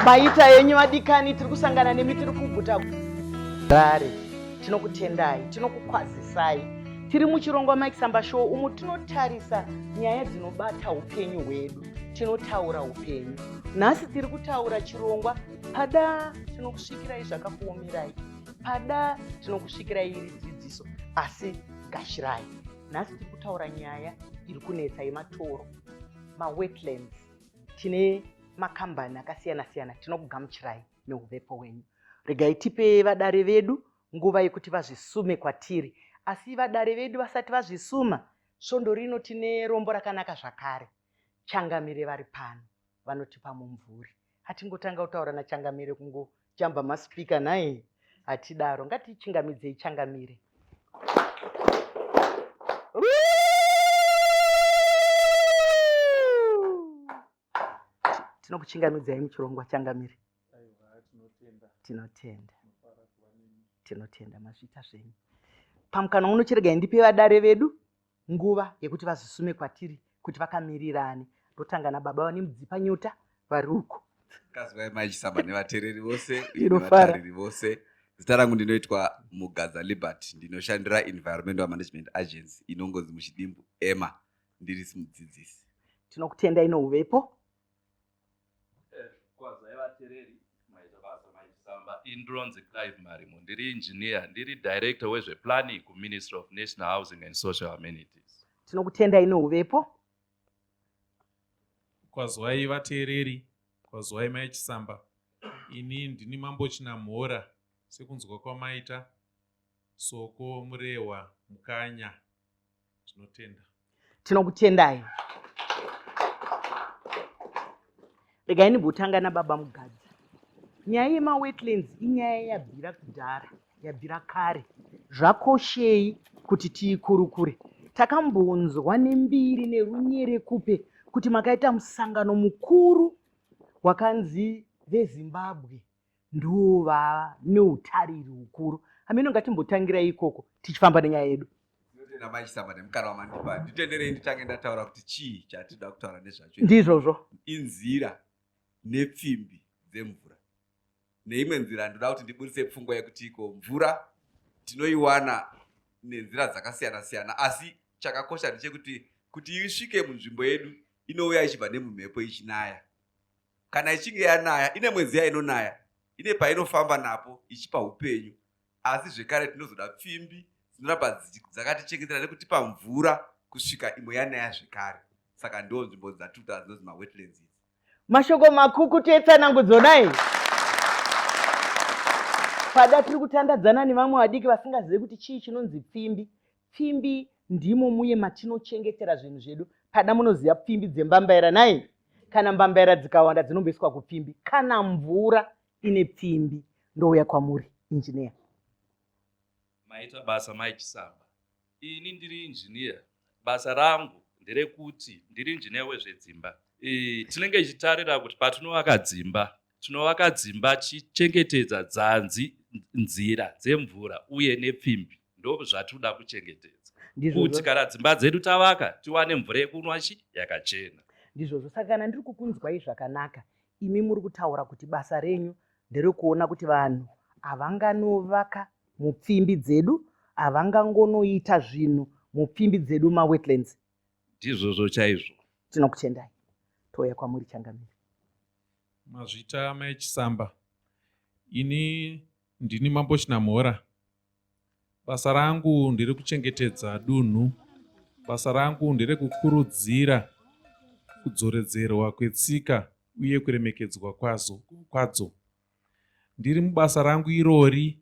maita henyu vadikani tiri kusangana nemi tiri kuguta rare tinokutendai tinokukwazisai tiri muchirongwa makisamba show umo tinotarisa nyaya dzinobata upenyu hwedu tinotaura upenyu nhasi tiri kutaura chirongwa pada tinokusvikirai zvakakuomerai pada tinokusvikira iri dzidziso asi gashirai nhasi tiri kutaura nyaya iri kunetsa yematoro mawetlands tine makambani akasiyana siyana tinokugamuchirai neuvepo wenyu regai tipe vadare vedu nguva yekuti vazvisume kwatiri asi vadare vedu vasati vazvisuma svondo rino tine rombo rakanaka zvakare changamire vari pano vanotipa mumvuri hatingotanga kutaura nachangamire kungojamba maspika nhai hatidaro ngatichingamidzei changamire tinokuchingamidzai muchirongwa changamire tinotenda tinotenda mazvita zvenyu pamukana unochiregai ndipe vadare vedu nguva yekuti vazvisume kwatiri kuti vakamirirani ndotanga nababa vane mudzipa nyota vari uko kazivai maichisaba nevatereri vose nevatariri vose zita rangu ndinoitwa mugadza liberty ndinoshandira environmental management agency inongonzi muchidimbu ema ndiri simudzidzisi tinokutenda inouvepo Kwazai vatereri maita basa maitisamba. Indronzi Clive Marimo, ndiri engineer, ndiri director wezveplanning kuMinistry of National Housing and Social Amenities. Tinokutendai neuvepo. Kwazwai vateereri, kwazwai mai Chisamba. Ini ndini mambo Chinamhora sekunzwa kwamaita Soko Murehwa Mukanya. tinotenda tinokutendai regai ndimbotanga nababa mugadzi nyaya yemawetlands inyaya yabvira kudhara yabvira kare zvakoshei kuti tiikurukure takambonzwa nembiri nerunyere kupe kuti makaita musangano mukuru wakanzi vezimbabwe ndovava neutariri hukuru hameno ngatimbotangira ikoko tichifamba nenyaya yedu nditenderei nditange ndataura kuti chii chatida kutaura nezvacho ndizvozvo inzira nepfimbi dzemvura neimwe nzira ndinoda kuti ndiburitse pfungwa yekuti iko mvura tinoiwana nenzira dzakasiyana siyana asi chakakosha ndechekuti kuti isvike munzvimbo yedu inouya ichibva nemumhepo ichinaya kana ichinge yanaya ine mwedzi yainonaya ine painofamba napo ichipa upenyu asi zvekare tinozoda pfimbi dzinoramba dzakatichengetera nekutipa mvura kusvika imwe yanaya zvekare saka ndo nzvimbo dzatuta dzinonzi mawetlands idzi mashoko makuku tetsanangudzo dai pada tiri kutandadzana nevamwe vadiki vasingazive kuti chii chinonzi pfimbi Pfimbi ndimo muye matinochengetera zvinhu zvedu. Pada munoziva pfimbi dzembambaira nhai? Kana mbambaira dzikawanda dzinomboiswa kupfimbi. Kana mvura ine pfimbi ndouya kwamuri injiniya. Maita basa mai Chisamba. Ini ndiri injiniya. Basa rangu nderekuti ndiri injiniya wezvedzimba. E, tinenge tichitarira kuti patinovaka dzimba Tinovaka dzimba tichichengetedza dzanzi nzira dzemvura uye nepfimbi ndozvatinoda kuchengetedza kuti kana dzimba dzedu tavaka tiwane mvura yekunwa chi yakachena ndizvozvo saka kana ndiri kukunzwai zvakanaka imi muri kutaura kuti basa renyu nderekuona kuti vanhu havanganovaka mupfimbi dzedu havangangonoita zvinhu mupfimbi dzedu mawetlands ndizvozvo chaizvo tinokutendai touya kwamuri changamire Mazvita mai Chisamba. Ini ndini mambo Chinamhora. Basa rangu ndiri kuchengetedza dunhu. Basa rangu ndere kukurudzira kudzoredzerwa kwetsika uye kuremekedzwa kwazo, kwadzo. Ndiri mubasa rangu irori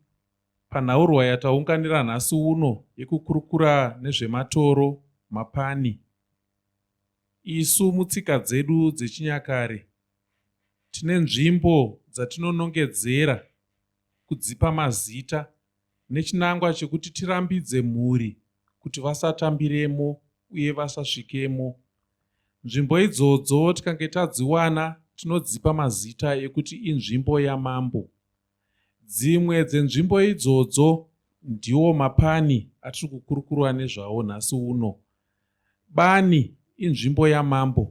panhaurwa yataunganira nhasi uno yekukurukura nezvematoro, mapani Isu mutsika dzedu dzechinyakare tine nzvimbo dzatinonongedzera kudzipa mazita nechinangwa chekuti tirambidze mhuri kuti vasatambiremo uye vasasvikemo. Nzvimbo idzodzo tikange tadziwana tinodzipa mazita ekuti inzvimbo yamambo. Dzimwe dzenzvimbo idzodzo ndiwo mapani atiri kukurukurwa nezvawo nhasi uno. Bani inzvimbo yamambo.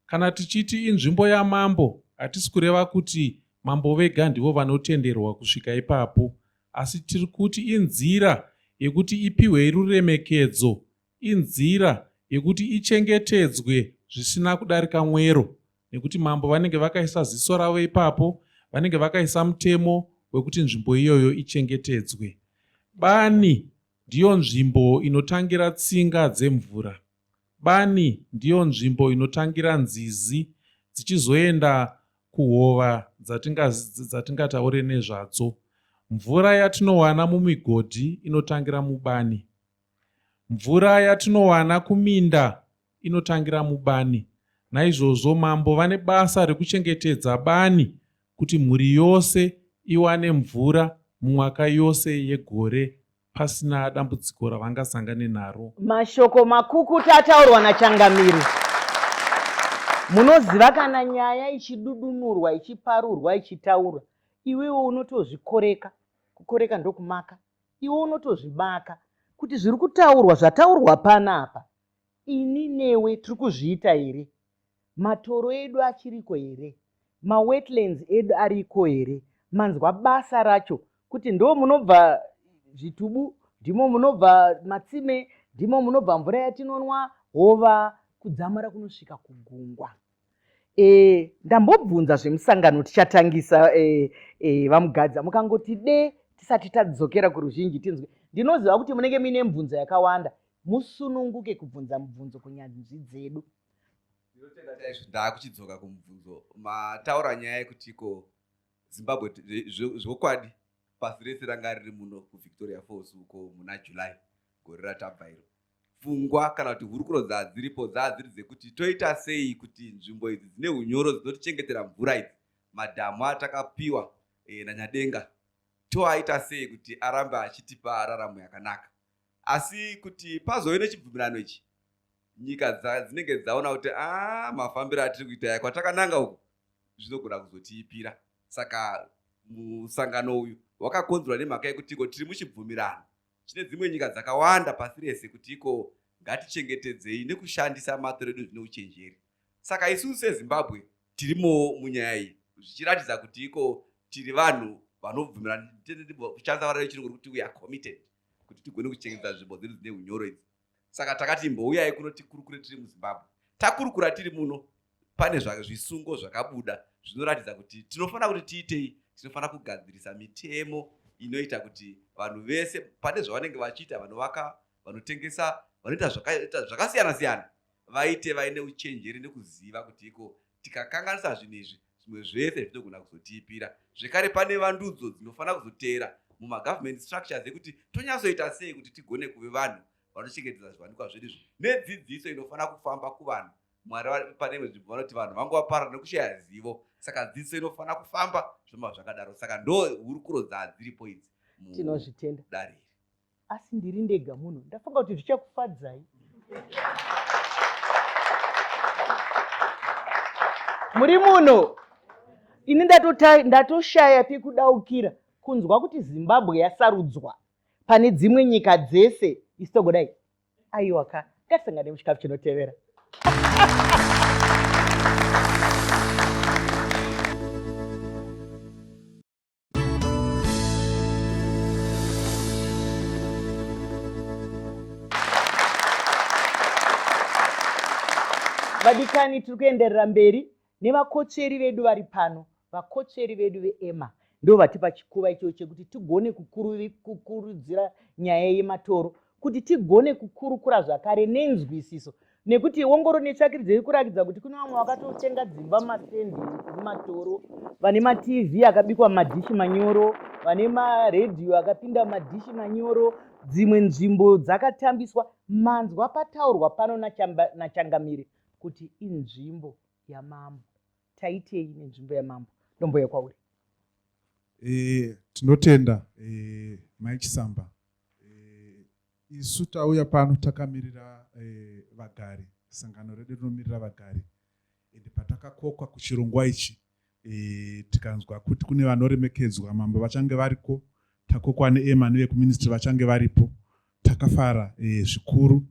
Kana tichiti inzvimbo yamambo hatisi kureva kuti mambo vega ndivo vanotenderwa kusvika ipapo asi tiri kuti inzira yekuti ipihwei ruremekedzo inzira yekuti ichengetedzwe zvisina kudarika mwero nekuti mambo vanenge vakaisa ziso ravo ipapo vanenge vakaisa mutemo wekuti nzvimbo iyoyo ichengetedzwe bani ndiyo nzvimbo inotangira tsinga dzemvura bani ndiyo nzvimbo inotangira nzizi dzichizoenda kuhova dzatingataure nezvadzo mvura yatinowana mumigodhi inotangira mubani Mvura yatinowana kuminda inotangira mubani. Naizvozvo mambo vane basa rekuchengetedza bani kuti mhuri yose iwane mvura mumwaka yose yegore pasina dambudziko ravangasangane naro. Mashoko makukuta ataurwa naChangamire. Munoziva kana nyaya ichidudunurwa, ichiparurwa, ichitaurwa, iwewe unotozvikoreka. Kukoreka ndokumaka. iwe unotozvibaka kuti zviri kutaurwa zvataurwa pana apa ini newe tiri kuzviita here matoro edu achiriko here mawetlands edu ariko here manzwa basa racho kuti ndo munobva zvitubu ndimo munobva matsime ndimo munobva mvura yatinonwa hova kudzamara kunosvika kugungwa Eh, ndambobvunza zvemusangano tichatangisa eh, eh, vamugadza mukangoti de tisati tadzokera kuruzhinji tinzwe ndinoziva kuti munenge muine mibvunzo yakawanda musununguke kubvunza mubvunzo kunyanzvi dzedu ndaakuchidzoka kumubvunzo mataura nyaya yekuti ko zimbabwe zvokwadi pasi rese ranga riri muno kuvictoria falls uko muna july gore ratabva iro pfungwa kana kuti hurukuro dzadziripo dzadziri dzekuti toita sei kuti nzvimbo idzi dzine unyoro dzinotichengetera mvura idzi madhamu atakapiwa e, nanyadenga toaita sei kuti arambe achitipa raramo yakanaka asi kuti pazove nechibvumirano ichi nyika dzinenge dzaona kuti a ah, mafambiro atiri kuita ya kwatakananga uku zvinogona kuzotiipira saka musangano uyu wakakonzerwa nemhaka yekutiko tiri muchibvumirano Chine dzimwe nyika dzakawanda pasi rese kuti iko ngatichengetedzei nekushandisa matoro edu zvine uchenjeri. Saka isusu seZimbabwe tirimowo munyaya iyi zvichiratidza kuti iko tiri vanhu vanobvumira kushandisa vara rechirungu rekuti we are committed kuti tigone kuchengetedza nzvimbo dzedu dzine unyoro idzi. saka takati imbouyai kuno tikurukure tiri muzimbabwe takurukura tiri muno pane zvisungo zvakabuda zvinoratidza kuti tinofanira kuti tiitei tinofanira kugadzirisa mitemo inoita kuti vanhu vese pane zvavanenge vachiita vanovaka vanotengesa vanoita zvakasiyana siyana vaite vaine uchenjeri nekuziva kuti iko tikakanganisa zvinhu izvi zvimwe zvese zvinogona kuzotiipira zvekare pane vandudzo dzinofanira kuzoteera mumagovernment structures ekuti tonyatsoita sei kuti tigone kuve vanhu vanochengetedza zviwanikwa zvedu izvi nedzidziso inofanira kufamba kuvanhu mwari pane imwe nzvimbo vanoti vanhu vangu vaparara nekushaya zivo saka dzidziso inofanira kufamba zvoma zvakadaro saka ndo hurukuro dzadziripo idzi tinozvitenda dariri asi ndiri ndega muno ndafunga kuti zvichakufadzai muri muno ini ndatoshaya pekudaukira kunzwa kuti zimbabwe yasarudzwa pane dzimwe nyika dzese isi togodai aiwa ka ngatisangane muchikafu chinotevera vadikani tiri kuenderera mberi nevakotsveri vedu vari pano vakotsveri vedu veema ndo vatipa chikuva ichoo chekuti tigone kukurudzira nyaya yematoro kuti tigone kukurukura zvakare nenzwisiso nekuti wongoro netsvakiridzo iri kurakidza kuti kune vamwe vakatotenga dzimba mastendi mumatoro vane matv akabikwa madhishi manyoro vane maredhiyo akapinda madhishi manyoro dzimwe nzvimbo dzakatambiswa manzwa pataurwa pano nachangamire kuti inzvimbo yamambo taitei nenzvimbo yamambo ndomboya kwauri e, tinotenda e, eh, maichisamba Eh, isu tauya pano takamirira eh, vagari sangano redu rinomirira vagari ende patakakokwa kuchirongwa ichi eh, tikanzwa kuti kune vanoremekedzwa mambo vachange variko takokwa neema nevekuministry vachange varipo takafara eh, zvikuru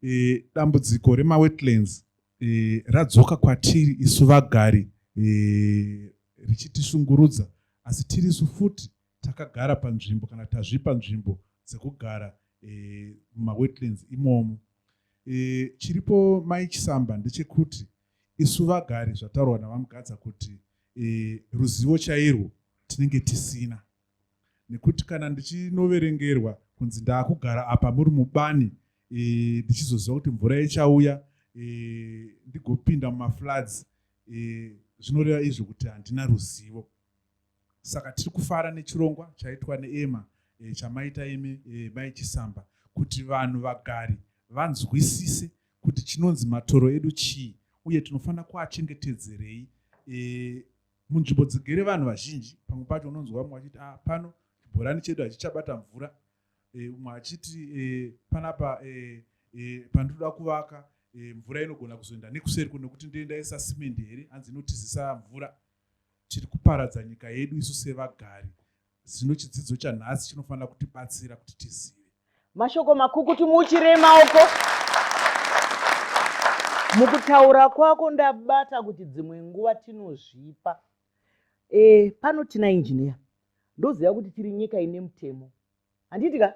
eh, dambudziko remawetlands eh, radzoka kwatiri isu vagari eh, richitishungurudza asi tirisu futi takagara panzvimbo kana tazvipa nzvimbo dzekugara eh, mumawetlands eh, imomo eh, chiripo mai chisamba ndechekuti isu vagari zvataurwa navamugadza kuti eh, ruzivo chairwo tinenge tisina nekuti kana ndichinoverengerwa kunzi ndaakugara apa muri mubani eh, ndichizoziva kuti mvura ichauya eh, ndigopinda mumafloods eh, zvinoreva izvo kuti handina ruzivo saka tiri kufara nechirongwa chaitwa neema e, chamaita imi e, mai chisamba kuti vanhu vagari vanzwisise kuti chinonzi matoro edu chii uye tinofanira kuachengetedzerei e, munzvimbo dzigere vanhu vazhinji pamwe pacho unonzwa vamwe vachiti ah, pano chibhorani chedu hachichabata mvura e, umwe achiti e, panapa e, e, pandinoda kuvaka e, mvura inogona kuzoenda nekuseri ko nekuti ndoendaisa simendi here hanzi inotizisa mvura tiri kuparadza nyika yedu isu sevagari zvino chidzidzo chanhasi chinofanira kutibatsira kuti tizive mashoko makukutu muuchirei maoko mukutaura kwako ndabata kuti dzimwe nguva tinozvipa e, pano tina injiniya ndoziva kuti tiri nyika ine mutemo handiti ka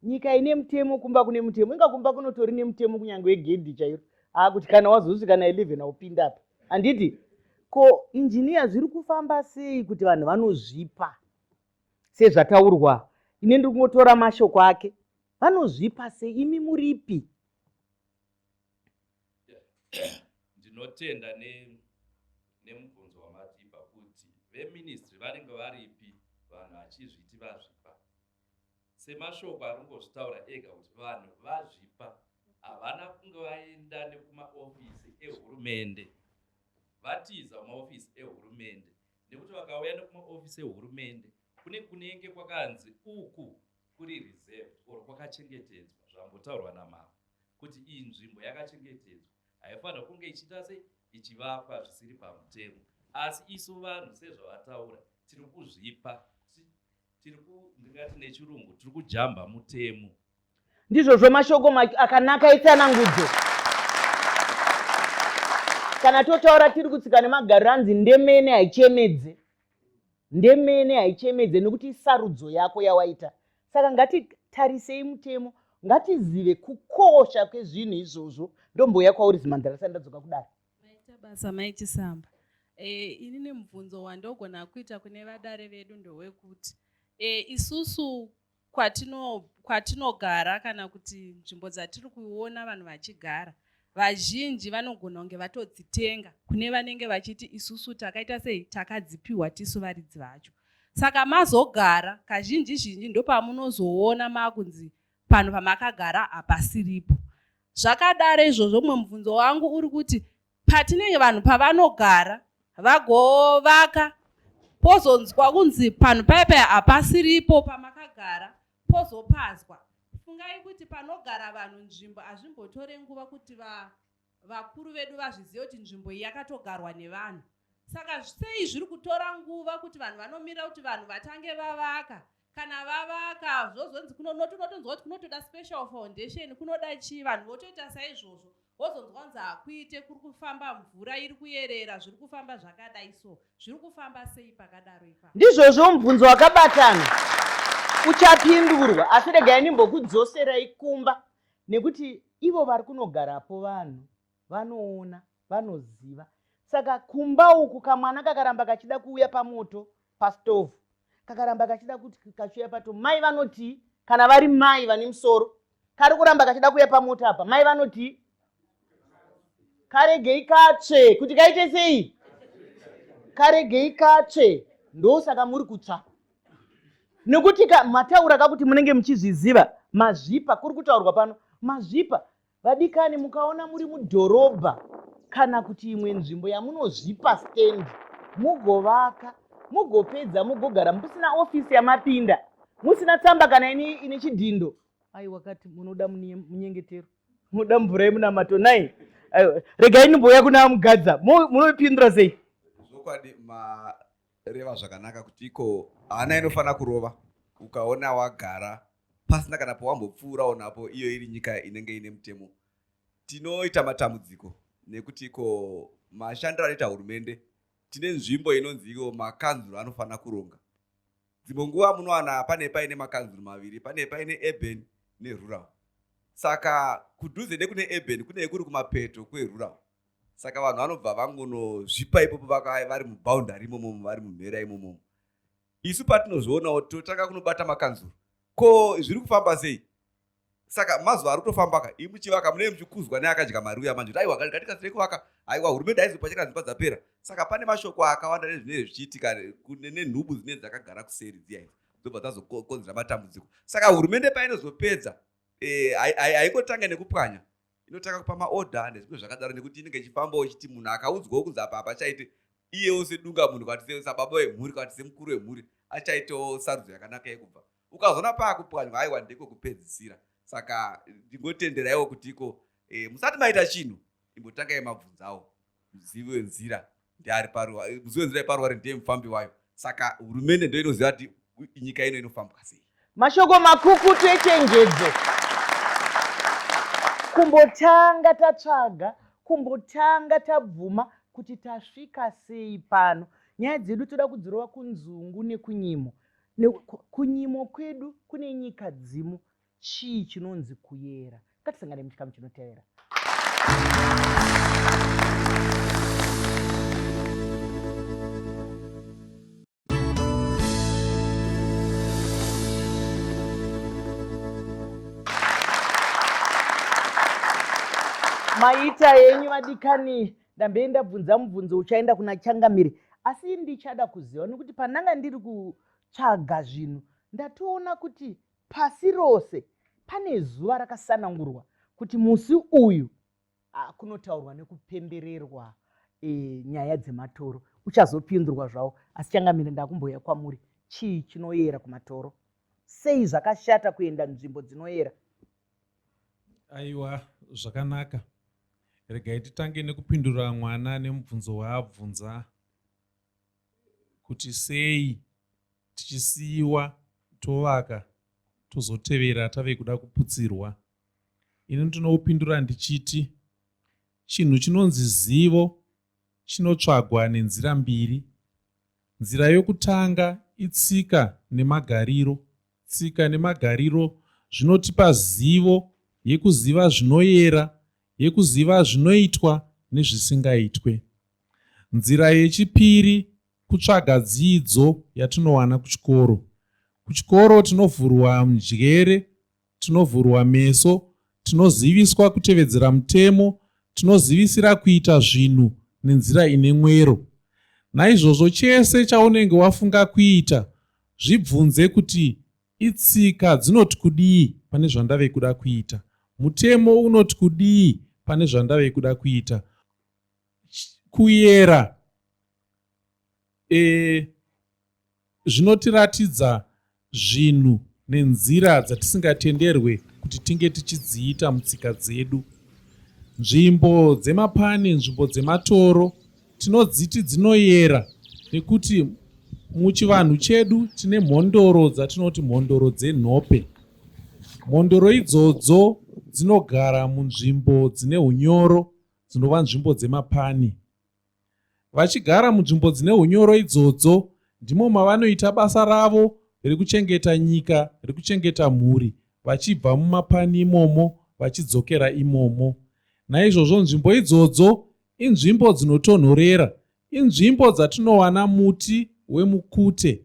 nyika ine mutemo kumba kune mutemo inga kumba kunotori nemutemo kunyange wegedhi chairo haa kuti kana wazosvika na 11 aupinda apa handiti ko injiniya zviri kufamba sei kuti vanhu vanozvipa sezvataurwa ine ndiri kungotora mashoko ake vanozvipa sei imi muripi ndinotenda ne nemubvunzo wamatipa kuti veministry vanenge varipi vanhu vachizviti vazvipa semashoko ari kungozvitaura ega kuti vanhu vazvipa havana kunge vaenda nekumaofisi ehurumende vatiza kumaofisi ehurumende nekuti vakauya nekumaofisi ehurumende kune kunenge kwakanzi uku kuri reserved or kwakachengetedzwa zvambotaurwa namambo kuti iyi nzvimbo yakachengetedzwa haifanira kunge ichiita sei ichivakwa zvisiri pamutemo asi isu vanhu sezvavataura tiri kuzvipa tiri kundingati nechirungu tiri kujamba mutemo ndizvozvo mashoko akanaka etsanangudzo kana totaura tiri kutsika nemagariro anzi ndemene haichemedze Ndemene haichemedze nokuti isarudzo yako yawaita. Saka ngatitarisei mutemo, ngatizive kukosha kwezvinhu izvozvo. Ndombouya kwauri Zimandara risati ndadzoka kudaro. Maita basa mai Chisamba. E, ini nemubvunzo wandogona kuita kune vadare vedu ndowekuti e, isusu kwatinogara kana kuti nzvimbo dzatiri kuona vanhu vachigara vazhinji vanogona kunge vatodzitenga kune vanenge vachiti isusu takaita sei takadzipiwa tisu varidzi vacho saka mazogara kazhinji zhinji ndopamunozoona makunzi panhu pamakagara hapasiripo zvakadaro izvozvo mumwe mubvunzo wangu uri kuti patinenge vanhu pavanogara vagovaka pozonzwa kunzi panhu paye paye hapasiripo pamakagara pozopazwa fungai kuti panogara vanhu nzvimbo hazvimbotore nguva kuti va, vakuru vedu vazvizive kuti nzvimbo iyi yakatogarwa nevanhu saka sei zviri kutora nguva kuti vanhu vanomira kuti vanhu vatange vavaka kana vavaka zvozonzi kunonotonotonzwa kuti kunotoda special foundation kunoda chii vanhu votoita saizvozvo wozonzwa kunzi hakuite kuri kufamba mvura iri kuyerera zviri kufamba zvakadai so zviri kufamba sei pakadaro ipa ndizvozvo mubvunzo wakabatana uchapindurwa asi regai ndimbokudzoserai kumba nekuti ivo vari kunogarapo vanhu vanoona vanoziva saka kumba uku kamwana kakaramba kachida kuuya pamoto pastovhu kakaramba kachida kuti kachiuya pato mai vanoti kana vari mai vane musoro kari kuramba kachida kuuya pamoto apa mai vanoti karegei katsve kuti kaite sei karegei katsve ndosaka muri kutsva nekuti mataura kakuti munenge muchizviziva mazvipa kuri kutaurwa pano mazvipa Vadikani, mukaona muri mudhorobha kana kuti imwe nzvimbo yamunozvipa stand, mugovaka, mugopedza, mugogara musina ofisi yamapinda, musina tsamba kana ini ine chidhindo. Ai wakati munoda munyengetero, munoda mvura yemunamato nai regai ndimbouya kuna mugadza munopindura sei? Zvokwadi reva zvakanaka kuti iko hana inofanira kurova ukaona wagara pasina kana pawambopfuurawo napo iyo iri nyika inenge ine mutemo tinoita matambudziko nekuti iko mashandiro anoita hurumende tine nzvimbo inonzi iyo makanzuro anofanira kuronga dzimwe nguva munowana pane paine makanzuro maviri pane paine urban nerural saka kudhuze nekune urban kune kuri kumapeto kwerural saka vanhu vanobva vangonozvipa ipopo vakava vari muboundary imomomo vari mumhera imomomo isu patinozvionawo totanga kunobata makanzuro ko zviri kufamba sei saka mazuva ari kutofambaka imi muchivaka munee muchikuzwa neakadya mari uya manje aiwa gatikasirei kuvaka aiwa hurumende aizopa cheka dzimba dzapera saka pane mashoko akawanda nezvinenge zvichiitika nenhubu dzinee dzakagara kuseri dziya idzo dzobva dzazokonzera matambudziko saka hurumende painozopedza eh, haikotanga nekupwanya inotanga kupa maorder nezvimwe zvakadaro nekuti inenge ichifambawo ichiti munhu akaudzwawo kunzi apa apa chaite iyewo sedunga munhu kwati sababa wemhuri kwati semukuru wemhuri achaitawo sarudzo yakanaka yekubva ukazoona paakupwanywa aiwa ndiko kupedzisira saka ndingotenderaiwo kuti iko e, musati maita chinhu imbotangai mabvunzawo muzivi wenzira ndiari paruwa eh, muzivi wenzira yeparuware ndiye mufambi wayo saka hurumende ndo inoziva kuti nyika ino inofambwa sei mashoko makukutu echenjedzo kumbotanga tatsvaga kumbotanga tabvuma kuti tasvika sei pano nyaya dzedu toda kudzirova kunzungu nekunyimo kunyimo kwedu kune nyika dzimu Chii chinonzi kuyera? Ngatisangane muchikamu chinotevera. maita yenyu vadikani ndambei ndabvunza mubvunzo uchaenda kuna changamire asi ndichada kuziva nekuti pandanga ndiri kutsvaga zvinhu ndatoona kuti Pasi rose pane zuva rakasanangurwa kuti musi uyu ah, kunotaurwa nekupembererwa e, nyaya dzematoro. Uchazopindurwa zvawo, asi changamire ndakumboya kwamuri. Chii chinoyera kumatoro? Sei zvakashata kuenda nzvimbo dzinoyera? Aiwa, zvakanaka. Regai titange nekupindura mwana nemubvunzo waabvunza. kuti sei tichisiiwa tovaka tozotevera tave kuda kuputsirwa. Ini ndinopindura ndichiti chinhu chinonzi zivo chinotsvagwa nenzira mbiri. Nzira yokutanga itsika nemagariro. Tsika nemagariro zvinotipa zivo yekuziva zvinoyera, yekuziva zvinoitwa nezvisingaitwe. Nzira yechipiri kutsvaga dzidzo yatinowana kuchikoro. Kuchikoro tinovhurwa mjere, tinovhurwa meso, tinoziviswa kutevedzera mutemo, tinozivisira kuita zvinhu nenzira ine mwero. Naizvozvo chese chaunenge wafunga kuita, zvibvunze kuti itsika dzinoti kudii pane zvandave kuda kuita? Mutemo unoti kudii pane zvandave kuda kuita? kuyera e, zvinotiratidza zvinhu nenzira dzatisingatenderwe kuti tinge tichidziita mutsika dzedu nzvimbo dzemapani nzvimbo dzematoro tinodziti dzinoyera nekuti muchivanhu chedu tine mhondoro dzatinoti mhondoro dzenhope mhondoro idzodzo dzinogara munzvimbo dzine unyoro dzinova nzvimbo dzemapani. Vachigara munzvimbo dzine hunyoro idzodzo ndimo mavanoita basa ravo rekuchengeta nyika, rekuchengeta mhuri, vachibva mumapani imomo vachidzokera imomo. Naizvozvo nzvimbo idzodzo inzvimbo dzinotonhorera, inzvimbo dzatinowana muti wemukute.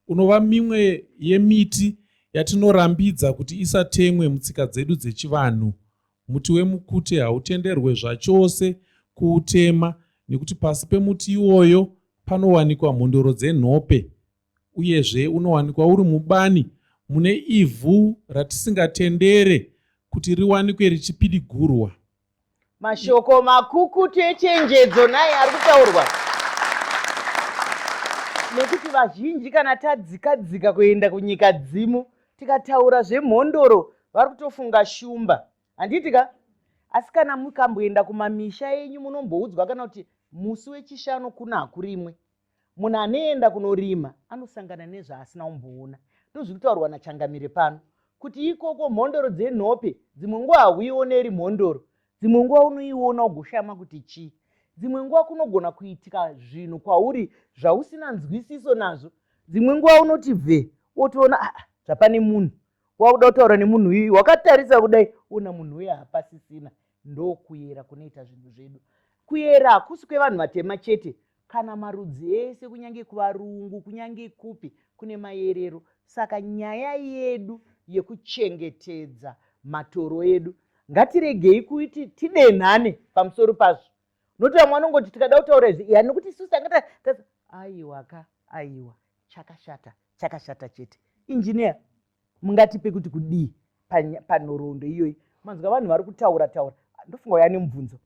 unova mimwe yemiti yatinorambidza kuti isatemwe mutsika dzedu dzechivanhu. Muti wemukute hautenderwe zvachose kuutema nekuti pasi pemuti iwoyo panowanikwa mhondoro dzenhope uyezve unowanikwa uri mubani mune ivhu ratisingatendere kuti riwanikwe richipidigurwa mashoko makukutu echenjedzo naye ari kutaurwa nekuti vazhinji kana tadzika dzika kuenda kunyika dzimu tikataura zvemhondoro vari kutofunga shumba handiti ka asi kana mukamboenda kumamisha enyu munomboudzwa kana kuti musi wechishanu kuna hakurimwe munhu anoenda kunorima anosangana nezvaasina umboona ndozviri kutaurwa nachangamire pano kuti ikoko mhondoro dzenhope dzimwe nguva hauioneri mhondoro dzimwe nguva unoiona ugoshama kuti chii dzimwe nguva kunogona kuitika zvinhu kwauri zvausina nzwisiso nazvo dzimwe nguva unoti ve wotoona aa ah, zvapane munhu wakuda kutaura nemunhu uyu wakatarisa kudai ona munhu uye hapasisina Ndokuyera kunoita zvinhu zvedu. Kuyera hakusi kwevanhu vatema chete. Kana marudzi ese kunyange kuvarungu kunyange kupi kune mayerero. Saka nyaya yedu yekuchengetedza matoro edu ngatiregei kuti tidenhane pamusoro pazvo nokuti vamwe vanongoti tikada kutaura izvi yani nokuti isusu tangata aiwa ka aiwa chakashata chakashata chete injiniya mungatipe kuti kudii panhoroondo iyoyi manzwa vanhu vari kutaura taura ndofunga uya nemubvunzo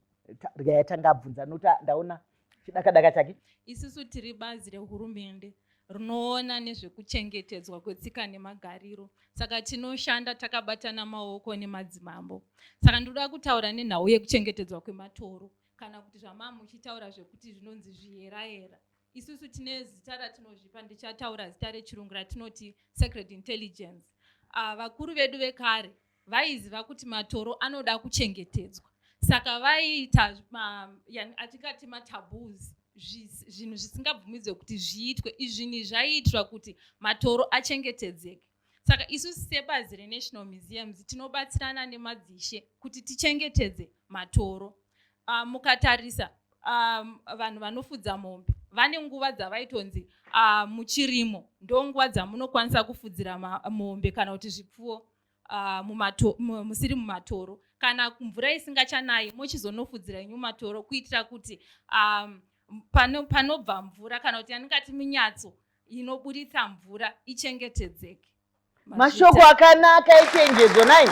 yatanga abvunza noti ndaona chidakadaka chake isusu tiri bazi rehurumende rinoona nezvekuchengetedzwa kwetsika nemagariro saka tinoshanda takabatana maoko nemadzimambo saka ndinoda kutaura nenhau yekuchengetedzwa kwematoro kana kuti zvamaamuchitaura zvekuti zvinonzi zviyerayera Isusu tine zita ratinozvipa ndichataura zita rechirungu ratinoti secret intelligence. Uh, vakuru vedu vekare vaiziva kuti matoro anoda kuchengetedzwa saka vaiita atingati mataboos zvinhu zvisingabvumidzwe kuti zviitwe izvinhi zvaiitwa kuti matoro achengetedzeke saka isu sebazi renational museums tinobatsirana nemadzishe kuti tichengetedze matoro uh, mukatarisa um, vanhu vanofudza mombe vane nguva dzavaitonzi uh, muchirimo ndo nguva dzamunokwanisa kufudzira mombe kana kuti zvipfuwo uh, mumato, musiri mumatoro kana mvura isingachanayi mochizonofudzira inyu matoro kuitira kuti um, panobva mvura kana kuti yandingati minyatso inoburitsa mvura ichengetedzeke mashoko akanaka echenjedzo nai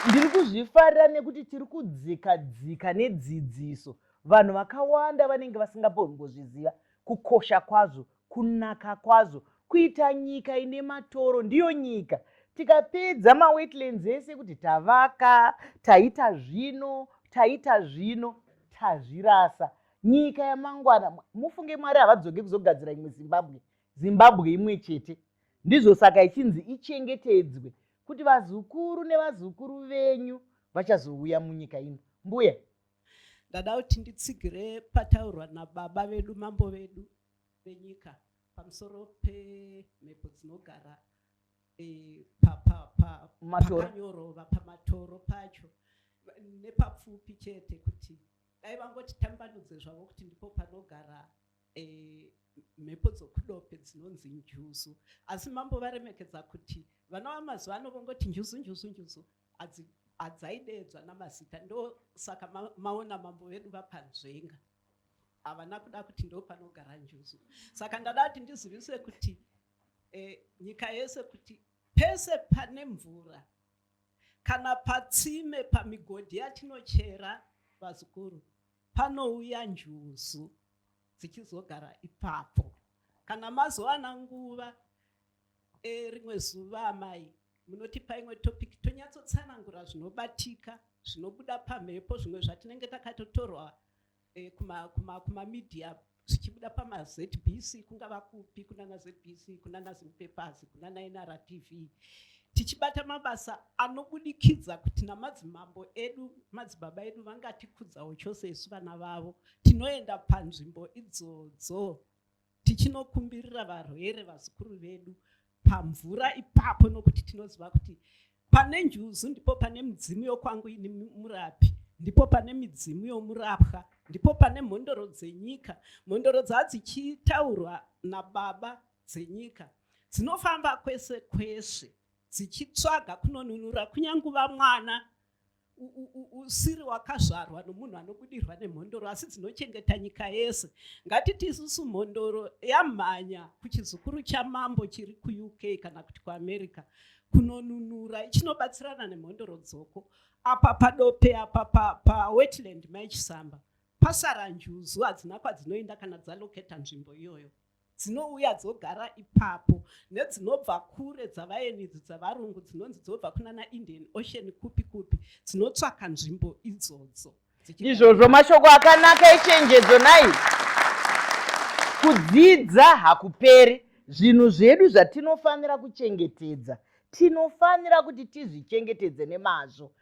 ndiri kuzvifarira nekuti tiri kudzika dzika nedzidziso vanhu vakawanda vanenge vasingambozviziva kukosha kwazvo kunaka kwazvo kuita nyika ine matoro ndiyo nyika tikapedza mawetlands ese kuti tavaka taita zvino taita zvino tazvirasa nyika yamangwana mufunge mwari havadzoke kuzogadzira imwe zimbabwe zimbabwe imwe chete ndizvo saka ichinzi ichengetedzwe kuti vazukuru nevazukuru venyu vachazouya munyika ino mbuya ndada kuti nditsigire pataurwa nababa vedu mambo vedu venyika pamusoro pemhepo dzinogara e, pakanyorova pamatoro pacho nepapfupi chete kuti Dai vangoti tambanudze zvavo kuti ndipo panogara eh, mhepo dzokudope dzinonzi njuzu asi mambo varemekedza kuti vana vamazuva ano vongoti njuzu njuzu njuzu adzaideedzwa namazita ndosaka ma, maona mambo vedu vapanzvenga havana kuda kuti ndo panogara njuzu saka ndada kuti ndizivise kuti eh, nyika yese kuti pese pane mvura kana patsime pamigodhi yatinochera vazukuru panouya njuzu dzichizogara ipapo kana mazowana nguva e, rimwe zuva amai munotipa imwe topic tonyatsotsanangura zvinobatika zvinobuda pamhepo zvimwe zvatinenge takatotorwa eh, kuma, kuma, kuma media zvichibuda pamazbc kungava kupi kunana zbc kunana zimpapers kunana nrtv tichibata mabasa anobudikidza kuti namadzimambo edu madzibaba edu vangatikudzawo chose isu vana vavo tinoenda panzvimbo idzodzo tichinokumbirira varwere vazukuru vedu pamvura ipapo nokuti tinoziva kuti pane njuzu ndipo pane midzimu yokwangu ini murapi ndipo pane midzimu yomurapwa ndipo pane mhondoro dzenyika mhondoro dzadzichitaurwa nababa dzenyika dzinofamba kwese kwese dzichitsvaga kunonunura kunyanguva mwana usiri wakazvarwa nomunhu anobudirwa nemhondoro asi dzinochengeta nyika yese ngatiti isusu mhondoro yamhanya kuchizukuru chamambo chiri kuuk kana kuti kuamerica kunonunura ichinobatsirana nemhondoro dzoko apa padope apa pawetland pa, pa maichisamba pasara njuzu hadzina kwadzinoenda kana dzaloketa nzvimbo iyoyo dzinouya dzogara ipapo nedzinobva kure dzavaenidzo dzavarungu dzinonzi dzobva kunana indian ocean kupi kupi dzinotsvaka nzvimbo idzodzo izvozvo mashoko akanaka echenjedzo nai kudzidza hakuperi zvinhu zvedu zvatinofanira kuchengetedza tinofanira kuti tizvichengetedze nemazvo